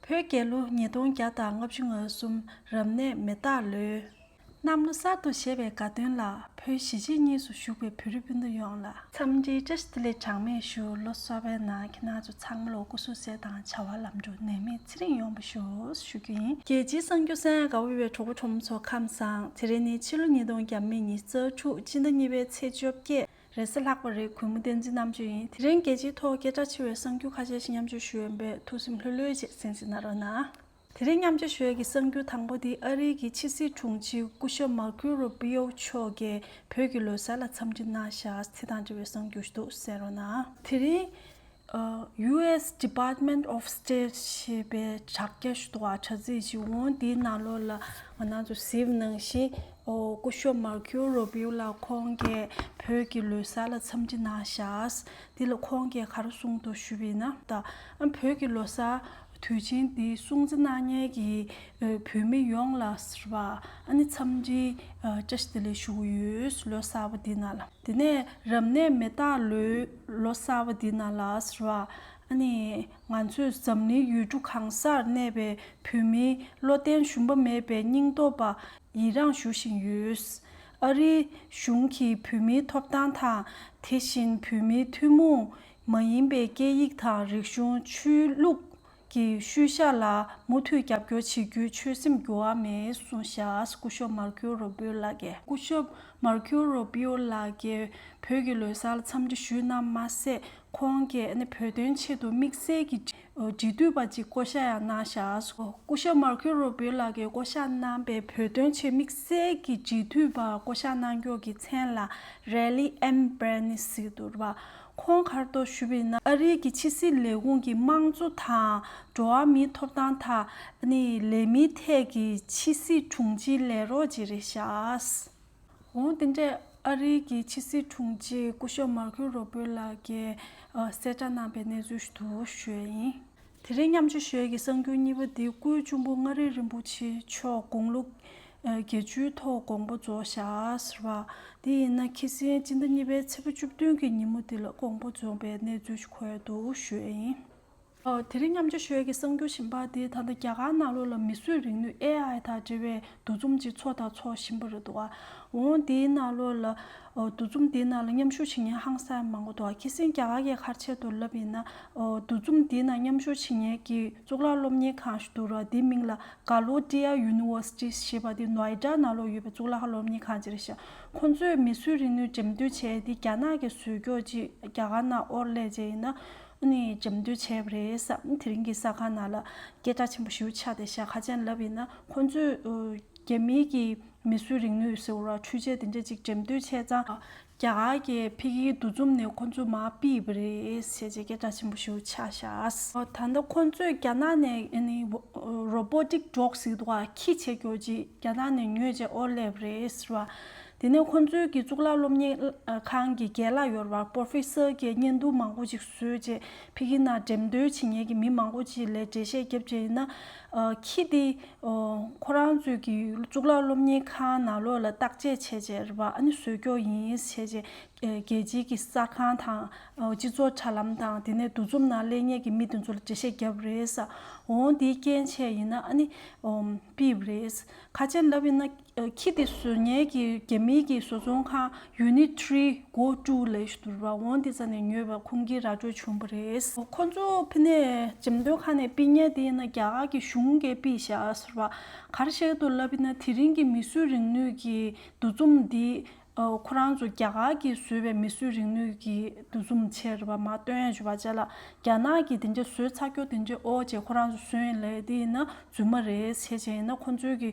བོད་རྒྱལ་ལོ་ཉིས་སྟོང་བརྒྱ་དང་ལྔ་བཅུ་ང་གསུམ་རབ་གནས་མེ་སྟག་ལོའི། གནམ་ལོ་གསར་དུ་བཞད་པའི་དགའ་སྟོན་ལ་བོད་གཞིས་བྱེས་གཉིས་སུ་བཞུགས་པའི་བོད་རིགས་སྤུན་ཟླ་ཡོངས་ལ། འཚམས་འདྲིའི་བཀྲ་ཤིས་བདེ་ལེགས་གྲངས་མེད་ཞུ་ལོ་གསར་པའི་ནང་ཁྱེད་རྣམས་ཚོ་ཚང་མ་ལོ་དགུ་བསུ་གསོལ་དང་བྱ་བ་ལམ་འགྲོ་ནད་མེད་ཚེ་རིང་ཡོང་པ་ཞུ་ཞུ་རྒྱུ་ཡིན། རྒྱལ་སྤྱིའི་གསང་རྒྱུད་གསན་དགའ་དབུལ་བའི་གྲོགས་པོ་ཁྲོམ་ཚོ་ཁམས་བཟང་ཚེ་རིང་ནི་ཕྱི་ལོ་ཉིས་སྟོང་བརྒྱ་མེད་ཉིས་རྩ་དྲུག་སྤྱི་ཟླ་གཉིས་པའི་ཚེས་བཅོ་བརྒྱད་རེས་གཟའ་ལྷག་པ་རེའི་གུས་མོ་བསྟན་འཛིན་རྣམ་དཔྱོད་ཡིན། དེ་རིང་རྒྱལ་སྤྱིའི་ཐོག་སྐད་གྲགས་ཆེ་བའི་གསང་རྒྱུད་ཁ་ཤས་ཤིག་མཉམ་སྤྱོད་ཞུས་ཡོད་པས་ཐུགས་སེམས་ལྷོད་ལྷོད་བྱེད་སེམས་སེ་ན་རོ་ན། དེ་རིང་མཉམ་སྤྱོད་ཞུ་ཡ་གི་གསང་རྒྱུད་དང་པོ་དེ་ཨ་རིའི་གི་ཕྱི་སྲིད་དྲུང་ཆེ་སྐུ་ཞབས་མར་ཁུའི་རུ་པི་ཨོ་མཆོག་གི་བོད་ཀྱི་ལོ་གསར་ལ་འཚམས་འདྲི་གནང་ཞག་ཚེ་དང་འབྲེལ་བའི་གསང་རྒྱུད་ཞུ་འདུག་སེ་རོ་ན། དེ་རིང། US Department of State ཞེས་པའི་དྲ་རྒྱ་ཞུ་གཏུག་བ་དྲ་ཚིགས་ཤིག་འོང་དེའི་ནང་ལོགས་ལ་ང་ནང་དུ་གཟིགས་གནང་ཞིང། སྐུ་ཞོབས Marco Rubio ལགས་ཁོང་གིས་བོད་ཀྱི་ལོའི་གསར་ལ་འཚམས་འདྲི་གནང་ཞགས། དེ་ལ་ཁོང་གིས་གར་གསུངས་ཐོག་ཞུས་པའི་ནང་ད་ཨ་བོད་ཀྱི་ལོ་གསར་དུས་ཆེན་འདི་སྲུང་བརྩི་གནང་མྱལ་གྱི་བོད་མི་ཡོངས་ལ་ཟེར་བ་ཨ་ནི་འཚམས་འདྲི་བཀྲ་ཤིས་བདེ་ལེགས་ཞུ་གི་ཡོད། ལོ་གསར་པ་འདི་ནང་ལ། དེ་ནས་རབ་གནས་མེ་སྟག་ལོའི་ལོ་གསར་བ་འདི་ན་ལགས། ང་ཚོས་འཛམ་གླིང་ཡུལ་གྲུ་གང་སར་གནས་པའི་བོད་མིའི་བློ་བརྟན་ཞུམ་པ་མེད་པའི་སྙིང་སྟོབས་པ་ཡི་རངས་ཞུ་བཞིན་ཡོད། ཨ་རིའི་གཞུང་གིས་བོད་མིའི་ཐོབ་ཐང་དང་དེ་བཞིན་བོད་མིའི་ཐུན་མོང་མ་ཡིན་པའི་སྐད་ཡིག་དང་རིག་གཞུང་ཆོས་ལུགས། ཀྱི་ཤུལ་བཞག་ལ་མུ་མཐུད་རྒྱབ་སྐྱོར་བྱེད་རྒྱུའི་ཆོད་སེམས་འགྱུར་བ་མེད་གསུངས། བཞག་སྐུ་ཞོབ་མར་ཁིའོ་རོ་པིའོ་ལགས་ཀྱིས། སྐུ་ཞོབ་མར་ཁིའོ་རོ་པིའོ་ལགས་ཀྱིས་བོད་ཀྱི་ལོ་སར་འཚམས་འདྲི་ཞུས་ན་མ་ཟད་ཁོང་གིས་བོད་དོན་ཆེད་དུ་དམིགས་བསལ་གྱི་འབྲེལ་མཐུད་པ་ཅིག་བསྐོ་བཞག་ཡང་གནང། བཞག་སྐུ་ཞོབ་མར་ཁིའོ་རོ་པིའོ་ལགས་ཀྱིས་བསྐོ་བཞག་གནང་པའི་བོད་དོན་ཆེད་དམིགས་བསལ་གྱི་འབྲེལ་མཐུད་པ་བསྐོ་བཞག་གནང་མགྱོགས་ཀྱི་མཚན་ལ Rally Embassy དུ་བ། ཁོང་ཁར་དོགས་ཞུ་བས་ན་ཨ་རིའི་གི་ཕྱི་སྲིད་ལས་ཁུངས་ཀྱི་དམངས་གཙོ་དང་འགྲོ་བ་མིའི་ཐོབ་ཐང་དང་ནི་ལས་མིའི་ཐད་ཀྱི་ཕྱི་སྲིད་དྲུང་ཆེའི་ལས་རོགས་ཅིག་རེད་ཤགས། འོང་དེ་འདྲས་ཨ་རིའི་གི་ཕྱི་སྲིད་དྲུང་ཆེ་སྐུ་ཞབས་མར་ཁིའུ་རོ་བོད་ལགས་ཀྱིས་གསལ་བསྒྲགས་གནང་པའི་གནས་ཚུལ་དུ་བཤོད་ཡིན། དེ་རིང་མཉམ་སྤྱོད་ཞལ་གྱི་གསང་རྒྱུན་གཉིས་པ་འདི་སྐུའི་གཅུང་པོ་མངའ་རིས་རིན་པོ་ཆེ་མཆོག་དགུང་ལོ་བརྒྱད་ཅུའི་ཐོག་དགོངས་པ་རྫོགས་བཞག་པ། དེ་ཡིན་ན་ཁྱི་སེང་སྤྱི་ཟླ་གཉིས་པའི་ཚེས་པ་བཅུ་བདུན་གྱི་ཉིན་མོ་འདི་ལ་དགོངས་པ་རྫོགས་པའི་གནས་ཚུལ་ཞིག་གོ་ཡང་འདུག་ཞུས་ཨེ་ཡིན། དེ་རིང་མཉམ་སྤྱོད་ཞལ་གྱི་གསང་རྒྱུན་བཞིན་པ་འདི་ད་ལྟ་རྒྱ་གར་ནག་ལོ་ལ་མི་གསོད་རིག་ནུས AI དང་འབྲེལ་བའི་འདུ་འཛོམས་ཅིག་འཚོགས་དང་འཚོགས་བཞིན་པ་རེད་འདུག་འོ་འདིའི་ནང་ལོ་ལ་འདུ་འཛོམས་འདིའི་ནང་ལ་མཉམ་ཞུགས་བྱེད་མཁན་ཧང་སངས་མང་པོ་འདུག་ཁྱི་སེང་རྒྱ་གར་གྱི་ཁར་ཆེད་དུ་ལབ་ཡིན་ན། འདུ་འཛོམས་འདི་ན་མཉམ་ཞུགས་བྱེད་ཉན་གྱི་གཙུག་ལག་སློབ་གཉེར་ཁང་ཞིག་འདུག་རོགས་འདིའི་མིང་ལ Galodia University ཞེས་པ་འདི་ནོ་ཨེ་སྒྲ་ན་ལོ་ཡོད་པའི་གཙུག་ལག་སློབ་གཉེར་ཁང་ཅིག་རེད་ཤག་ཁོང་ཚོས་མི་སུ་རིག་ནུས་འགྲེམས་སྟོན་བྱས་འདི་རྒྱ་ནག་གི་ཟོལ་ཀྱོག་ཅིག་རྒྱ་གར་ན་ཨོར་ལས་ཅན་ཡིན་ན་འགྲེམས་སྟོན་བྱས་པ་རེད་བསམ་དེ་རིང་གི་ས་ཁང་ནང་ལ་སྐད་གྲགས་ཆེན་པོ་ཞིག་ཆགས་ཏེ་ཞག་ཁ་ཅན་ལབ་ཡིན་ན་ཁོང་ཚོས་རྒྱ་མིའི་གི་མི་སུ་རིག་ནུས་ཟེར་བ་འཕྲུལ་ཆས་འདི་འདྲ་ཅིག་འགྲེམས་སྟོན་བྱས་ཙང། རྒྱ་གར་གྱི་ཕི་གིའི་འདུ་འཛོམས་ནས་ཁོ་ཚོས་མ་ཕིས་པ་རེད་ཞེས་རྗེས་སྐད་གྲགས་ཆེན་པོ་ཞིག་ཆགས་བཞག། ད་ལྟ་ཁོ་ཚོས་རྒྱ་ནག་ནས Robotic Dog ཟེར་བ་ཁྱི་བྱེད་རྒྱོ་རྗེས་རྒྱ་ནག་ནས་ཉོས་རྗེས་ཨོ་ལེ་བ་རེད་ཟེར་བ། དེ་ནས་ཁོ་ཚོའི་གི་གཙུག་ལག་སློབ་གཉེར་ཁང་གི་རྒྱལ་ལ་ཡོར་བར Professor གྱི་བརྙན་ཐུང་མང་པོ་ཅིག་བཟོས་རྗེས་ཕི་གི་ནང་འགྲེམས་སྟོན་བྱེད་མཁན་གྱི་མི་མང་པོ་ཅིག་ལས་འགྲེལ་བཤད་རྒྱབ་རྗེས་ན། ཁྱི་དེ། ཁོ་རང་ཚོས་ཀྱི་གཙུག་ལག་སློབ་གཉེར་ཁང་ནང་ལོགས་ལ་བརྟག་དཔྱད་བྱས་རྗེས་ར་ཨན་བཟོས་སྐྱོར་ཡིན་ཞེས་བྱས་རྗེས་རྒྱལ་སྤྱིའི་གི་གསར་ཁང་དང་སྤྱི་ཚོགས་དྲ་ལམ་དང་དེ་ནས་འདུ་འཛོམས་ནང་གླེང་ཉེས་ཀྱི་མི་དེ་ཚོ་ལ་འགྲེལ་བཤད་བརྒྱབ་རེས། འོང་དེའི་རྐྱེན་བྱས་ཡིན་ན་ཨ་ནི། པིབ་རེས། ཁ་ཆེ་ལབ་ཡིན་ན། ཁྱི་དེ་ཟོལ་ངན་གྱི་རྒྱ་མིའི་གྱི་བཟོ་ཚོང་ཁང Unit Three སྒོ་དཀྲུགས་ལས་ཟུར་བ་ཝང་ཏི་ཙ་ནས་ཉོས་པ་ཁུང་གི་ར་སྤྲོད་བྱུང་བ་རེད། ཁོ་ཚོ་ཕི་ནས་འཇམ་མདོའི་ཁ་ནས་པི་ཉན་དེ་ཡིན་ན་རྒྱ་གར་གྱི་གཞུང་གས་པི་བཞག་ཟུར་བ་གར་བཤད་དུ་ལབ་པི་ན་དེ་རིང་གི་མི་སུས་རིང་ནུས་གྱི་འདུ་འཛོམ་འདི་ཁོ་རང་ཚོ་རྒྱ་གར་གྱི་བཟོས་པའི་མི་སུས་རིང་ནུས་གྱི་འདུ་འཛོམ་ཆེར་བ་མ་སྟོན་ཡ་ཇུ་བ་ཅ་ལ་རྒྱ་ནག་གྱི་དེ་འདྲ་བཟོས་ཚ་ཁྱོ་དེ་འདྲ་ཨོ་ཅེ་ཁོ་རང་ཚོ་བཟོས་ཡིན་ལས་དེ་ཡིན་ན་རྫུན་མ་རེད་བྱས་བྱས་ཡིན་ན་ཁོ་ཚོའི་གྱི།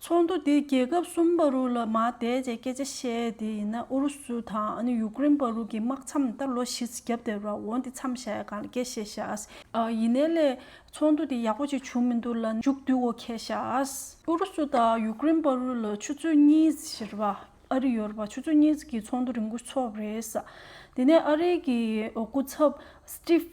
ཚོགས་འདུ་དེས་རྒྱལ་ཁབ་གསུམ་པ་རུ་ལ་མ་བསྡད་རྗེས་སྐད་ཆ་བཤད་དེ་ཡིན་ན་ཨུ་རུ་སུ་དང་ཡུ་ཀེ་རིན་བར་རུ་ཀི་དམག་མཚམས་ད་ལོ་བཞི་བརྒྱ་བརྡལ་བ་འོ་འདི་མཚམས་བཞག་ཡ་གང་ལ་སྐད་བཤད་བཞག། ཡིན་ནའི་ལས་ཚོགས་འདུ་དེ་ཡག་པོ་ཅིག་བྱུང་མི་འདུག་ལ་མཇུག་བསྡུ་འོ་ཁེ་བཞག། ཨུ་རུ་སུ་དང་ཡུ་ཀེ་རིན་བར་རུ་ལ་ཆུ་ཚོད་གཉིས་བཞིར་བ་ཨ་རི་ཡོར་བ་ཆུ་ཚོད་གཉིས་ཀྱི་ཚོགས་འདུ་རིང་པོ་ཚོགས་རེས། དེ་ནས་ཨ་རིའི་གི་སྐུ་ཚབ Steve།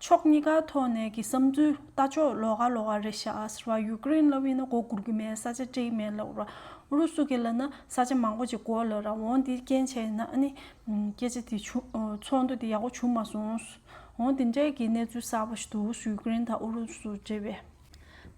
ཕྱོགས་གཉིས་ཀའི་ཐོག་ནས་ཀྱི་བསམ་ཚུལ་ལྟ་ཕྱོགས་ལོག་ག་ལོག་ག་རེད་ཤག་ཨ་ཟེར་བ་ཡུ་ཀེ་རེན་ལ་དབྱིན་ན་གོ་གུར་གི་མེད་ས་ཆ་སྤྲེའི་མེད་ལབ་ར་ཨུ་རུ་སུ་གི་ལ་ན་ས་ཆ་མང་པོ་ཅིག་གོ་ལབ་ར་འོང་འདི་རྐྱེན་བྱས་ཡིན་ན་ཨ་ནི་སྐད་ཆ་དེ་བྱུང་ཚོགས་འདུ་དེ་ཡག་པོ་བྱུང་མ་སོང་འོང་དེ་འདྲའི་གི་གནས་ཚུལ་གསར་པ་ཞིག་འདུག་ཡུ་ཀེ་རེན་དང་ཨུ་རུ་སུ་འབྲེལ་བའི།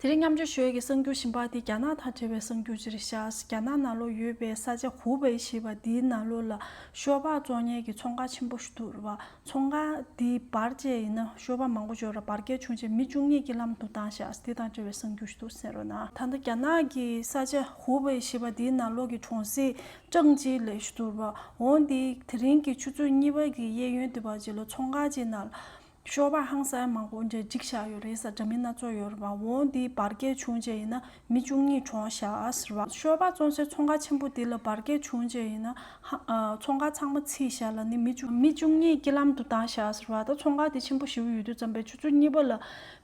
དེ་རིང་མཉམ་འབྱོར་ཞོལ་གྱི་གསར་འགྱུར་ཞིབ་འབར་དེ་རྒྱ་ནག་དང་འབྲེལ་བའི་གསར་འགྱུར་ཅིག་རེད་ཤག་རྒྱ་ནག་ནཱ་ལོ་ཡོད་པའི་ས་ཆ་ཧུའུ་པེ་ཞེས་པ་འདིའི་ནཱ་ལོ་ལ་ཤོ་བག་བཙོག་ཉལ་གྱི་ཚོང་ཁང་ཆེན་པོ་ཞིག་འདུག་རུ་བ་ཚོང་ཁང་འདིའི་བར་བཅད་ཡིན་ན་ཤོ་བག་མང་པོ་འཇོག་རུང་བར་བསྐལ་ཆུང་ཆེ་མི་བཅུ་གཉིས་ཀྱིས་ལམ་དུ་བཏང་ཤག་དེ་དང་འབྲེལ་བའི་གསར་འགྱུར་ཞིག་འདུག་ཟེར་རོ་ན། ད་ལྟ་རྒྱ་ནག་གི་ས་ཆ་ཧུའུ་པེ་ཞེས་པ་འདིའི་ནཱ་ལོ་གྱི་གྲོང་གསེབ་ཀྲང་ཅིའི་ལེ་ཞེས་འདུག་རུ་བ་འོང་འདི་དེ་རིང་གི་ཆུ་ཚོད་གཉིས་པ་གྱི་གཡས་གཡོན་དུ་བར་བཅད་ལོ་ཚོང་ཁང་ཅིག་ནཱ་ཤོར་བ་ཧང་སངས་མང་པོ་འདྲེ་འཇིགས་བཞག་ཡོད་རེད་ས་འདྲ་མིན་སྣ་ཚོགས་ཡོད་རེད་བ་འོང་འདི་བར་བསྐལ་བྱུང་རྗེས་ཡིན་ན་མི་བཅུ་གཉིས་གྲོངས་བཞག་ཟེར་བ་ཤོར་བ་བཙོང་སའི་ཚོང་ཁང་ཆེན་པོ་འདི་ལ་བར་བསྐལ་བྱུང་རྗེས་ཡིན་ན་ཚོང་ཁང་ཚང་མ་ཚིས་བཞག་ལ་ནི་མི་བཅུ་གཉིས་སྐྱིད་ལམ་དུ་བཏང་བཞག་ཟེར་བ་ད་ཚོང་ཁང་དེ་ཆེན་པོ་བཞི་བོ་ཡོད་དུས་རྩམ་པའི་ཆུ་ཚོད་གཉིས་པ་ལ་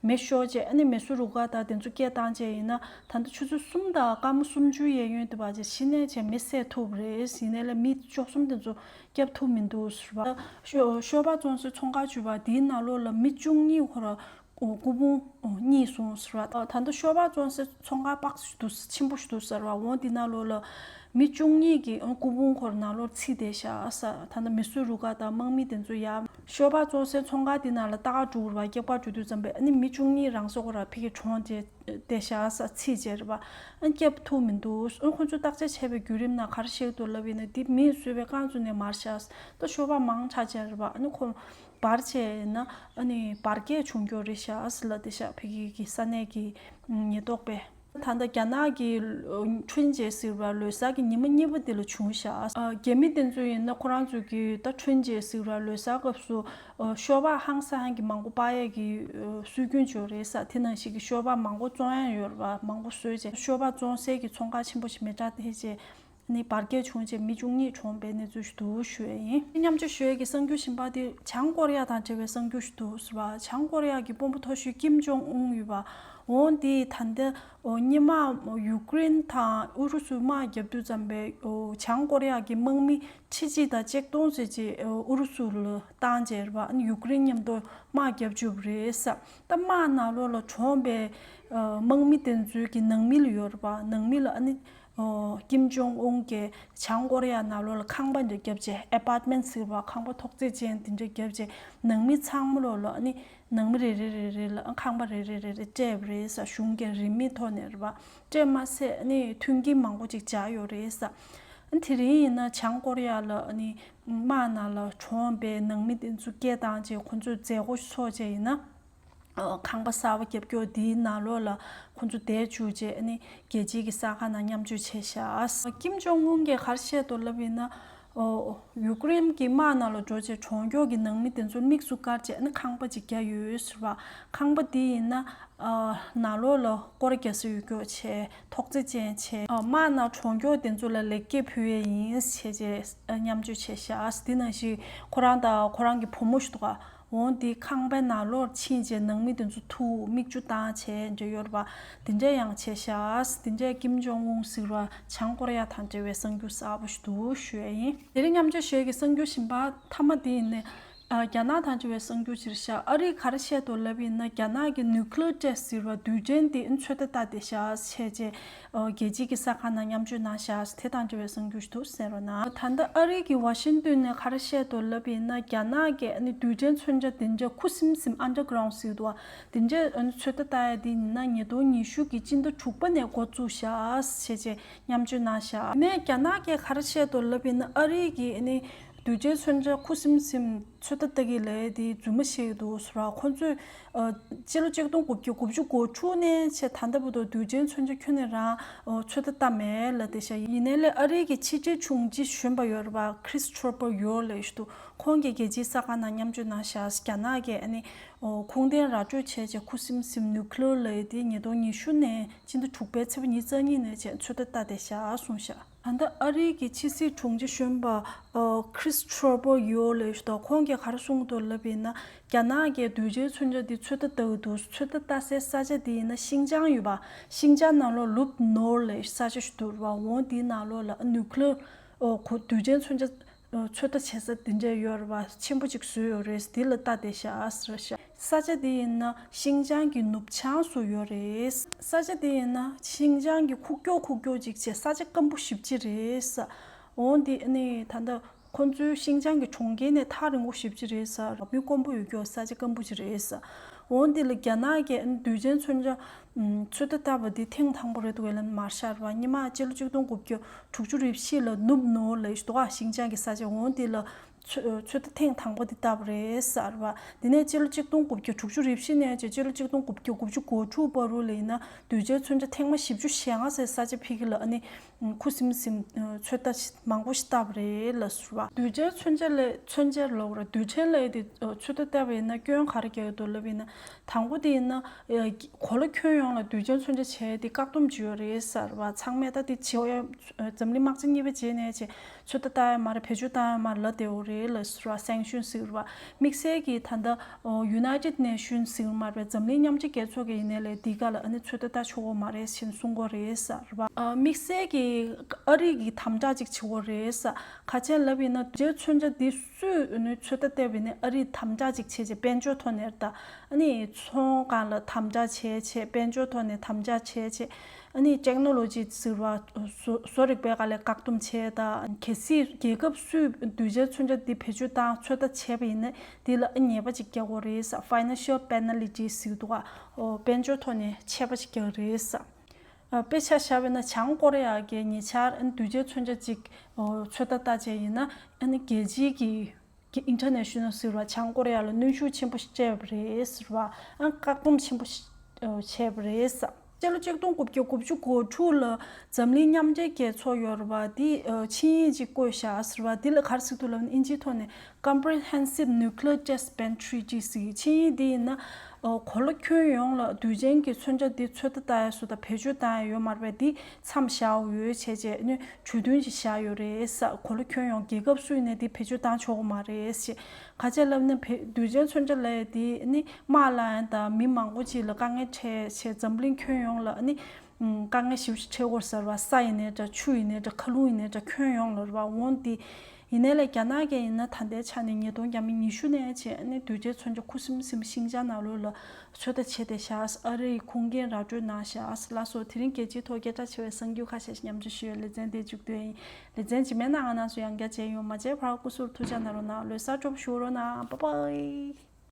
མེ་ཤོར་རྗེས་ཨ་ནི་མེ་སུ་རུ་ཀ་དང་དེ་ཚོ་སྐྱེལ་བཏང་རྗེས་ཡིན་ན་ད་ལྟ་ཆུ་ཚོད་གསུམ་དང་དཀར་མོ་སུམ་ཅུའི་གཡས་གཡོན་དེ་བར་རྗེས་ཤི་གནས་བྱས་མི་བསད་ཐུབ་རེད་ཡིན་ནའི་ལས་མི་བཅུ་གསུམ་དེ་ཚོ་བསྐྱབ་ཐུབ་མི་འདུག་ཟེར་བ། ཤོ་པ་བཙོང་སའི་ཚོང་ཁང་བྱུས་པ་དེའི་ནང་ལོགས་ལ་མི་བཅུ་གཉིས་ཁོ་ར་སྐུ་ཕུང་རྙེད་སོང་ཟེར་བ། ད་ལྟ་ཤོ་པ་བཙོང་སའི་ཚོང་ཁང་དཔག་ཞིག་འདུག་ཆེན་པོ་ཞིག་འདུག་ཟེར་བ་འོང་དེ་ནང་ལོགས་ལ་མི་བཅུ་གཉིས་ཀྱི་སྐུ་ཕུང་ཁོ་ར་ནང་ལོགས་ཚིག་དེ་བཞག་ས་ད་ལྟ་མི་སུ་རུ་ཁག་དང་དམག་མི་དེ་ཚོ་ཡ། ཤོ་པ་བཙོང་སའི་ཚོང་ཁང་དེ་ནང་ལ་རྟ་ཁ་དྲུག་རུ་བ་སྐྱག་པ་དྲུག་དུ་འཛམ་པའི་ནི་མི་བཅུ་གཉིས་རང་སོ་ཁོ་ར་ཕི་གི་གྲོང་དེ་བདེ་གཤེགས་ས་ཚིགས་ཅེས་རེད་པ། སྐྱབས་ཐུག་མི་འདུག་ཁོ་ཚོས་བརྟག་དཔྱད་བྱས་པའི་བརྒྱུད་རིམ་ན་གར་གཤེགས་འདུག་ལབ་ཡིན་ན་འདི་མིས་བཟོས་པའི་རྐང་བཙུགས་ནས་མར་བཞག་ད་ཤོ་བ་མང་ཆགས་ཅེས་རེད་པ་ཨ་ནི་ཁོ་བར་ཆད་ཡིན་ན་བར་བརྒལ་བྱུང་རྒྱུ་རེད་བཞག་ལ་བདེ་གཤེགས་ཕེ་ཁི་གི་ས་གནས་ཀྱི་ཉེས་རྟོག་པས། ད་ལྟ་རྒྱ་ནག་གི་ཁྲུན་ཇེ་ཟེར་བ་ལོ་སར་གྱི་ཉི་མ་གཉིས་པ་འདི་ལ་བྱུང་བཞག་རྒྱ་མི་དེ་ཚོ་ཡིན་ན་ཁོ་རང་ཚོས་ཀྱི་ད་ཁྲུན་ཇེ་ཟེར་བ་ལོ་སར་སྐབས་སུ་ཤོ་བག་ཧང་ས་ཧན་གྱི་མང་པོ་པགས་ཡས་ཀྱི་སྲོལ་རྒྱུན་ཅོ་རིའི་ས་དེ་ནང་ཞིག་གི་ཤོ་བག་མང་པོ་བཙོང་ཡང་ཡོད་རེད་པ་མང་པོ་ཟོས་རྗེས་ཤོ་བག་བཙོང་སའི་གྱི་ཚོང་ཁག་ཆེན་པོ་ཞིག་མི་གྲགས་ཐེ་ཆེ་ནི་བར་བརྒལ་བྱུང་རྗེས་མི་བཅུ་གཉིས་གྲོངས་པའི་གནས་ཚུལ་ཞིག་འདུག་ཞུ་ཡས་ཡིན། མཉམ་སྤྱོད་ཞུ་ཡས་ཀྱི་གསང་རྒྱུད་ཞིན་པ་དེ་བྱང་ཀོ་རི་ཡ་དང་འབྲེལ་བའི་གསང་རྒྱུད་ཞིག་འདུག་ཟེར་བ་བྱང་ཀོ་རི་ཡ་གྱི་དཔོན་པོ་མཐོ་ཤོས་ཀིམ་ཇོང་ཨུན་ཡོད་པ་འོང་དེ་ད་ལྟ་སྙེ་མ་ཡུ་ཀེ་རེན་དང་ཨུ་རུ་སུའི་དམག་བརྒྱབ་དུས་ཙམ་པའི་བྱང་ཀོ་རི་ཡ་གྱི་དམག་མི་ཕྱི་གཅིག་དང་ཅེཀ་སྟོང་བཅས་ཀྱིས་ཨུ་རུ་སུ་ལ་སྟངས་འཇལ་བ་ཡུ་ཀེ་རེན་མཉམ་དུ་དམག་རྒྱག་རྒྱུ་རེད་བསམ་སྟབས་དམག་ནག་ལོ་ལ་གྲོངས་པའི་དམག་མི་དེ་ཚོའི་གི་ནང་མི་ལ་ཡོད་པ་ནང་མི་ལ་ནི་ཀིམ་ཇོང་ཨུན་གྱི་བྱང་ཀོ་རེ་ཡ་ནག་ལོ་ལ་ཁང་པ་འདྲ་བརྒྱབ་རྗེས Apartment ཟེར་བ་ཁང་པ་ཐོག་བརྩེགས་ཅན་དེ་འདྲ་བརྒྱབ་རྗེས་ནང་མི་ཚང་མ་ལོ་ལ་ནི་ནང་མི་རེ་རེ་རེ་རེ་ལ་ཁང་པ་རེ་རེ་རེ་རེ་སྤྲད་པ་རེད་བསམ་གཞུང་གི་རིན་མེད་ཐོག་ནས་རེད་བསམ་སྤྲད་མ་ཟད་ནི་མཐུན་རྐྱེན་མང་པོ་ཅིག་བྱས་ཡོད་རེད། དེ་རིང་ཡིན་ན་བྱང་ཀོ་རི་ཡ་ལ་ནི་དམག་ནང་ལ་གྲོངས་པའི་ནང་མི་དེ་ཚོ་སྐྱེལ་བཏང་རྗེས་ཁོ་ཚོའི་མཛད་སྒོ་འཚོགས་རྗེས་ཡིན་ན། ཁང་པ་གསར་བ་རྒྱབ་སྐྱོར་འདིའི་ནང་ལོགས་ལ་ཁོ་ཚོ་བསྡད་བཅུག་རྗེས་ནི་རྒྱལ་སྤྱིའི་གི་ས་ཁང་ནང་མཉམ་སྤྱོད་བྱས་ཤག། ཀིམ་ཇོང་ཨུན་གྱིས་ཁར་བཤད་དུ་ལབ་ཡིན་ན། ཡུཀ་རེན་གྱི་དམག་ནང་ལ་འགྲོ་རྗེས་གྲོང་འགྱོགས་ཀྱི་ནང་མི་དེ་ཚོར་དམིགས་སུ་བཀར་བྱས་ན་ཁང་པ་ཅིག་རྒྱ་ཡོད་ཡོད་ཟེར་བ། ཁང་པ་དེ་ཡིན་ན། ནག་ལོག་ལ་སྐོར་རྒྱག་སའི་ཡུལ་འགྱོགས་བྱེད་ཐོག་རྩེ་ཅན་བྱས། དམག་ནང་གྲོང་འགྱོགས་དེ་ཚོ་ལ་ལེགས་སྐྱེས་ཕུལ་བས་ཡིན། བྱས་རྗེས་མཉམ་སྤྱོད་བྱས། ཞག་གི་དེ་ནང་ཞིག་ཁོ་རང་དང་ཁོ་རང་གི་བུ་མོ་ཞིག་འདུག་འོང་དེ་ཁང་པའི་ནང་ལོགས་ཕྱིན་རྗེས་ནང་མི་དེ་ཚོ་ཐུག་མིག་ཆུ་དྭངས་བྱས་འབྲས་ཡོད་རེད་པ་དེ་འདྲས་ཡང་བྱས་ཤགས་དེ་འདྲས་ཀིམ་ཇོང་ཨུན་ཟེར་བ་བྱང་ཀོ་རེ་ཡ་དང་འབྲེལ་བའི་གསང་རྒྱུ་གསར་པོ་ཞིག་འདུག་ཞུ་ཡ་ཡིན། དེ་རིང་མཉམ་སྤྱོད་བཞེས་ཀྱི་གསང་རྒྱུ་བཞིན་པ་མཐའ་མ་དེ་ཡིན་ནས། རྒྱ་ནག་དང་འབྲེལ་བའི་གསང་རྒྱུ་སྤྱིར་ཤགས་ཨ་རིས་ག་རེ་བཤད་དོ་ལབ་ཡིན་ན་རྒྱ་ནག་གི Nuclear Test ཟེར་བ་དུས་དྲན་དེའི་ཚོད་ལྟ་ལྟ་དེ་ཤགས་བྱས་རྗེས་རྒྱལ་སྤྱིའི་གི་ས་གང་ན་མཉམ་སྤྱོད་གནང་བཞག་དེ་དང་འབྲེལ་བའི་གསུང་རྒྱུ་ཞིག་འདུག་ཟེར་རོ་ན། ད་ལྟ་ཨ་རིའི་གི་ཝཱ་ཤིན་ཏུན་ནས་གར་བཤད་དུ་ལབ་ཡིན་ན་རྒྱ་ནག་གི་ཨ་ནི་དུས་དྲན་མཚོན་ཆ་དེ་འདྲ་ཁུ་སིམ་སིམ Underground ཟིག་འདུག་དེ་འདྲ་ཨ་ནི་ཚོད་ལྟ་བལྟ་ཡ་དེ་ཡིན་ན་ཉིས་སྟོང་ཉི་ཤུ་གི་སྤྱི་ཟླ་དྲུག་པ་ནས་འགོ་བཙུགས་བཞག་བྱས་རྗེས་མཉམ་སྤྱོད་གནང་བཞག་དེ་ནས་རྒྱ་ནག་གི་གར་བཤད་དུ་ལབ་ཡིན་ན་ཨ་རིའི་གི་ཨ་ནི་དུས་དྲན་མཚོན་ཆ་ཁུ་སིམ་སིམ། ཚོད་ལྟ་སྟེ་གི་ལས་དེ་རྫུན་མ་ཞིག་འདུག་ཟུར་ར་ཁོ་ཚོས། སྤྱི་ལོ་གཅིག་སྟོང་དགུ་བརྒྱ་དགུ་བཅུ་གོ་དྲུག་ནས་ཆེས་ད་ལྟ་བུ་དང་དུས་ཆེན་མཚོན་ཆ་ཁྱོན་ནས་རང་ཚོད་ལྟ་བཏང་མེད་ལ་དེ་ཤ་ཡིན། ནས་ལས་ཨ་རིའི་གི་ཕྱི་དྲིལ་ཆུང་སྤྱི་གཞོན་པ་ཡོད་ར་པ Chris Trooper ཡོད་ལས་ཞུ་དུག་ཁོང་གི་རྒྱལ་སྤྱིའི་ས་ཁང་ནང་མཉམ་སྤྱོད་གནང་ཤག་རྒྱ་ནག་གི་ཨ་ནི་ཁུངས་ལྡན་ར་སྤྲོད་བྱས་བྱས་ཁུ་སིམ་སིམ Nuclear ལས་དེ་ཉིས་སྟོང་ཉི་ཤུ་ནས་སྤྱི་ཟླ་དྲུག་པའི་ཚེ་བ་ཉིས་རྩ་གཉིས་ནས་བྱས་ཚོད་ལྟ་ལྟ་དེ་ཤ་གསུངས་ཤག། ད་ལྟ་ཨ་རིའི་གི་ཕྱི་སྲིད་དྲུང་ཆེ་གཞོན་པ Chris Trebojealous དང་ཁོང་གིས་གར་གསུངས་དུ་ལབ་ཡིན་ན་རྒྱ་ནག་གི་གདུལ་བྱའི་མཚོན་ཆ་འདི་ཚོད་ལྟ་ལྟ་བུ་འདུག་ཚོད་ལྟ་ལྟ་སའི་ས་ཆ་དེ་ཡིན་ན་ཤིང་ཅང་ཡོད་པ་ཤིང་ཅང་ནང་ལོགས Lub Norley ས་ཆ་ཞིག་འདུག་རང་དབང་དེའི་ནང་ལོགས་ལ Nuclear གདུལ་བྱའི་མཚོན་ཆ་ཚོད་ལྟ་བྱེད་ས་དེ་འདྲས་ཡོད་རེད་བ། ཆེན་པོ་གཅིག་བཟོས་ཡོད་རེད་དེ་ལ་ལྟ་བསྡད་ཤག་རེད་བྱ། ས་ཆ་དེ་ཡིན་ན་ཤིང་ཅང་གི་ནུབ་བྱང་སུ་ཡོད་རེད། ས་ཆ་དེ་ཡིན་ན་ཤིང་ཅང་གི་ཁུག་ཀྱོག་ཁུག་ཀྱོག་ཅིག་བྱས་ས་ཆ་སྐམ་པོ་བཞི་བཅུ་རེད་བྱ། འོ་འདི་ནི་ད་ལྟ་ཁོ་ཚོའི་ཤིང་ཅང་གི་གྲོང་ཁྱེར་ནས་ཐག་རིང་བོ་བཞི་བཅུ་རེད་བྱ། མི་དཀོན་པོ་ཡོད་ཀྱོག་ས་ཆ་སྐམ་པོ་ཅིག་རེད་བྱ། འོ་འདི་ལ་རྒྱ་ནག་གི་དུས་ཆེན་མཚོན་ཆ་ཚོད་ལྟ་ལྟ་བུ་དེ་ཐེངས་དང་པོ་རེད་བྷེ་ལན་མར་ཤར་བ་སྙེ་མ་སྤྱི་ལོ་བཅུ་སྟོང་དགུ་བརྒྱ་དྲུག་ཅུ་རེབ་བཞི་ལ་ནུབ་ནོ་ལེ་ཏོ་ཨ་ཤིང་ཅང་གི་ས་ཆ་འོང་དེ་ལ་ཚོད་ལྟ་ཐེངས་དང་པོ་དེ་ལྟ་བུ་རེད་ཤར་བ་དེ་ནས་སྤྱི་ལོ་གཅིག་སྟོང་དགུ་བརྒྱ་དྲུག་ཅུ་རེབ་བཞི་ནས་ཅེ་སྤྱི་ལོ་གཅིག་སྟོང་དགུ་བརྒྱ་དགུ་བཅུ་གོ་དྲུག་བར་རུ་ལེ་ཡིན་ན་དུས་བྱའི་ཚོད་ཆ་ཐེངས་མ་བཞི་བཅུ་ཞེ་ལྔ་སའི་ས་ཆ་ཕིག་ལ་ཨ་ནི་ཁུ་སིམ་སིམ་ཚོད་ལྟ་མང་པོ་ཞིག་བལྟ་བ་རེད་ལ་ཟུར་བ། གདུལ་བྱའི་མཚོན་ཆ་ལས་མཚོན་ཆའི་ལོགས་ར་རྡུལ་ཕྲན་ལས་དེ་ཚོད་ལྟ་བལྟ་བ་ཡིན་ན་སྐྱོན་ག་རེ་རྒྱག་གི་འདུག་ལབ་ཡིན་ན་དང་པོ་དེ་ཡིན་ན། གོ་ལ་ཁྱོན་ཡོངས་ལ་གདུལ་བྱའི་མཚོན་ཆ་བྱས་ཏེ་བཀག་སྡོམ་བྱོས་རེད་ཟེར་བ་ཚང་མས་ད་དེ་བྱས་འཛམ་གླིང་དམག་ཆེན་གཉིས་པ་རྗེས་ནས་བྱས་ཚོད་ལྟ་ལྟ་ཡ་མ་རེད་བེད་སྤྱོད་བཏང་ཡ་མ་རེད་ལ་དེའོ་རེ་ལ་ར་སེང་ཤུན་སིག་རུ་བ་དམིགས་བསལ་གྱི་ད་ལྟ United Nation སིག་རུ་མ་རེད་པ་འཛམ་གླིང་མཉམ་སྤྱི་རྒྱལ་ཚོགས་ཀྱི་ཡིན་ནའི་ལས་འདི་ག་ལ་ཨ་ནི་ཚོད་ལྟ་ལྟ་ཆོག་གོ་མ་རེད་ཤིན་གསུང་གོ་རེ་ས་རུ་བ། དམིགས་བསལ་གྱི་ཨ་རིག་གི་དམ་དྲག་ཅིག་བྱེད་གོ་རེ་ས་ཁ་ཆེན་ལབ་ཡིན་ན་རྗེ་མཚོན་ཆ་འདི། གཙོས་འོས་ནུས་ཚོད་ལྟ་ལྟེ་བས་ནས་ཨ་རིས་དམ་དྲག་ཅིག་བྱེད་ཅེས་དཔལ་འབྱོར་ཐོག་ནས་རྟ་ནི་ཚོང་ཁང་ལ་དམ་དྲག་བྱེད་ཅེས་དཔལ་འབྱོར་ཐོག་ནས་དམ་དྲག་བྱེད་ཅེས་ཨ་ནི Technology ཟེར་བ་བཟོ་རིག་པའི་ཀ་ལས་བཀག་སྡོམ་བྱེད། གལ་སྲིད་རྒྱལ་ཁབ་སུས་གདུལ་བྱའི་མཚོན་ཆ་འདི་བེད་སྤྱོད་དང་ཚོད་ལྟ་བྱས་པ་ཡིན་ན་དེ་ལ་ཨ་ཉེས་པ་ཅིག་རྒྱག་དགོས་རེད Financial Penalty ཟེར་འདུག་དཔལ་འབྱོར་ཐོག་ནས་ཆད་པ་ཅིག་རྒྱག་རེད། དཔེ་ཆ་བཞག་པས་ན་བྱང་ཀོ་རེ་ཡ་གི་ཉེ་ཆར་དུས་བཅད་མཚོན་ཆ་གཅིག་ཚོད་ལྟ་བལྟ་བྱས་ཡིན་ན་རྒྱལ་སྤྱིའི་གི International ཟེར་བ་བྱང་ཀོ་རེ་ཡ་ལ་གནོན་ཤུགས་ཆེན་པོ་སྤྲད་པ་རེད་ཟེར་བ་བཀག་སྡོམ་ཆེན་པོ་བྱས་པ་རེད་བསམ། སྤྱི་ལོ་གཅིག་སྟོང་དགུ་བརྒྱ་དགུ་བཅུ་གོ་དྲུག་ལ་འཛམ་གླིང་མཉམ་འབྲེལ་རྒྱལ་ཚོགས་ཡོ་རོ་པ་དེ་ཆིངས་ཡིག་ཅིག་བཀོད་བཞག་ཟེར་བ་དེ་ལ་གར་ཟིག་ཐུག་ལབ་ན་ཨིན་ཇིའི་ཐོག་ནས Comprehensive Nuclear Test Ban Treaty། ཞེས་ཆིངས་ཡིག་འདི་ཡིན་ན། གོ་ལ་ཁྱོན་ཡོངས་ལ་དུས་ཆེན་གྱི་མཚོན་ཆ་འདི་ཚོད་ལྟ་ཡས་སུ་དང་བེད་སྤྱོད་བཏང་ཡས་ཡོད་མ་རེད་པས་འདི་མཚམས་བཞག་ཡོད་བྱས་བྱས་ནས་གྲོས་མཐུན་ཞིག་བཞག་ཡོད་རེད། གོ་ལ་ཁྱོན་ཡོངས་རྒྱལ་ཁབ་སུས་ནས་འདི་བེད་སྤྱོད་བཏང་ཆོག་གི་མ་རེད་ཞེས་ག་ཚད་ལབ་ན་བེད་དུས་ཆེན་མཚོན་ཆ་ལས་འདི་ནི་དམག་ལ་ཡང་དང་མི་མང་པོ་ཅིག་ལ་དཀའ་ངལ་འཕྲད་ཆེད་འཛམ་གླིང་ཁྱོན་ཡོངས་ལ་ནི་དཀའ་ངལ་ཞིབ་ཅིག་འཕྲད་སྐོར་ཟེར་བ་ས་ཡི་ནས་འདྲ་ཆུ་ཡི་ནས་འདྲ་མཁའ་རླུང་ཡི་ནས་འདྲ་ཁྱོན་ཡོངས་ལ་རེད་པ་འོང་འདི་ཡིན་ནའི་ལས་རྒྱ་ནག་གི་ཡིན་ན་ད་ལྟའི་ཆ་ནས་ཉིས་སྟོང་བརྒྱ་མི་ཉི་ཤུ་ནས་བཅས་ནས་དུས་རྒྱལ་ཚོན་གྱི་ཁུ་སིམ་སིམ་ཤིང་ཅང་ནག་ལུས་ལ་ཚོད་ལྟ་བྱས་ཏེ་བཞག་ཨ་རི་ཡི་ཁུངས་འགན་ར་སྤྲོད་གནང་བཞག་ལ་སོགས་དེ་རིང་རྒྱལ་སྤྱིའི་ཐོག་སྐད་གྲགས་ཆེ་བའི་གསང་རྒྱུད་ཁ་ཤས་ཤིག་མཉམ་སྤྱོད་ཞུ་ཡའི་ལེ་ཚན་འདིའི་མཇུག་དོན་ཡིན་ལེ་ཚན་ཇི་མའི་ནང་ང་ནང་སུ་ཡང་རྒྱ་བྱས་ཡོང་མ་བྱས་བར་སྐུ་གཟུགས་ཐུགས་ཅག་ན་རོ་ནག་ལོས་གསར་འགྲོམ་ཞུ་རོ་ནག་པ་པའི།